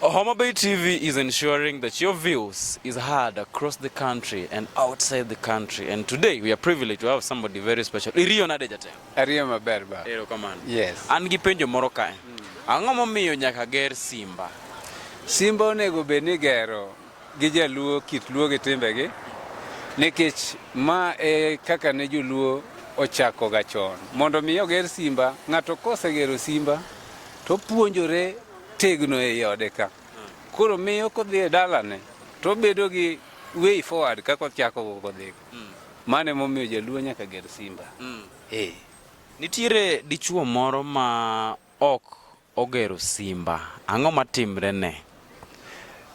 Homa Bay TV is ensuring that your views is heard across the country and outside the country. And today we are privileged to have somebody very special. Iriyo nade jate? Ariyo maber ba. Ero kamano. Yes. An gi penjo moro kae. Mm. Ang'o momiyo nyaka ger Simba? Simba onego bed ni gero gi jaluo kit luo gi timbegi nikech ma e kaka ne joluo ochako ga chon mondo mi oger simba ng'ato kosegero simba to puonjore tegno e ode ka koro miyo kodhi e dalane to bedo gi way forward kaka ochako kodhi mm. mane momiyo jaluo nyaka ger simba mm. eh. nitiere dichuo moro ma ok ogero simba, ang'o matimrene?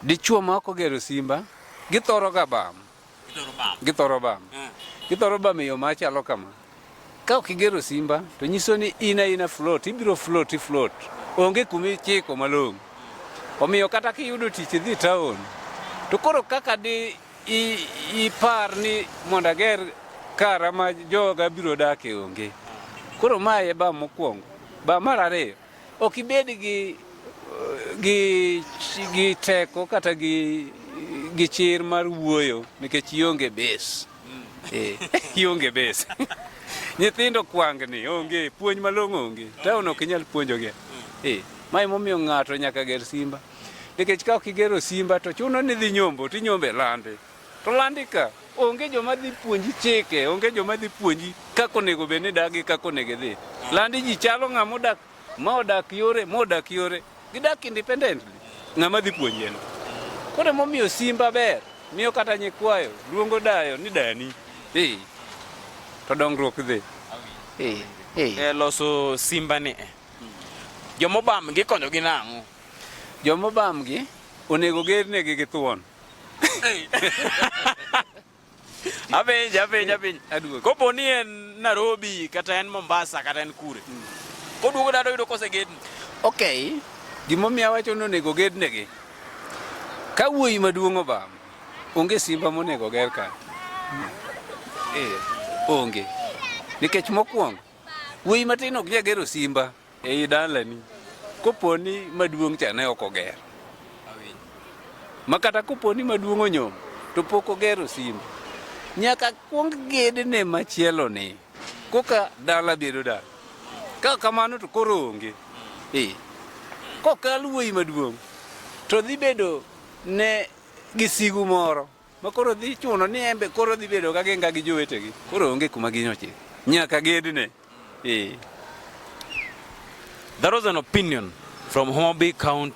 Dichwo ma ok ogero simba, githoroga bam. Githoro bam. Eh. Githoro bam e yo machalo kama. Ka ok igero simba, to nyiso ni in aina float, ibiro float, ifloat. Onge kuma ichiko malong'o. Omiyo kata kiyudo tich idhi taon, to koro kaka di Ipar ni mondo ager kara ma joga biro dake onge. Koro ma e ba mokwongo. Ba mar ariyo, ok ibed gi gi gi teko kata gi gi chir mar wuoyo nikech ionge bes. Eh, ionge bes. Nyithindo kwangni onge, puonj malong'o onge. Taon ok inyal puonjogi. Eh, ma emomiyo ng'ato nyaka ger simba. Nikech ka ok igero simba to chuno ni dhi nyombo to inyombo e landi. To landi ka onge joma dhi puonji chike, onge joma dhi puonji kaka onego bed ni idak gi kaka onego idhi. Landi ji chalo ng'ama odak ma odak yore ma odak yore gidak independently ng'ama dhi puonji en. Koro emomiyo simba ber miyo kata nyikwayo luongo dayo ni dani. Eh. To dongruok dhi. Eh. Eh. E loso simba ni. Jomobam gikonyogi nang'o? Joma obamgi onego gernegi gi thuon. Apenj, apenj, apenj. Aduogo. Kopo ni en Nairobi kata en Mombasa kata en kure. Mm. Koduogo dala oyudo kose gedni. Okay. Gimomiyo awacho ni onego gednegi. Ka wuoyi maduong' obam, onge simba monego ger ka. Eh, onge. Nikech mokwongo, wuoyi matin ok nyagero simba. Ei dalani kopo ni maduong' cha ne ok oger makata kopo ni maduong' onyom to pok ogero simba nyaka kuong gedne machielo ni koka dala bedo dala ka kamano to koro onge e kokal wuoyi maduong' to dhi bedo ne gisigu moro ma koro dhi chuno ni embe koro dhi bedo ka genga gi jowetegi koro onge kuma ginyoche nyaka gedne eh. That was an opinion from Homabay County.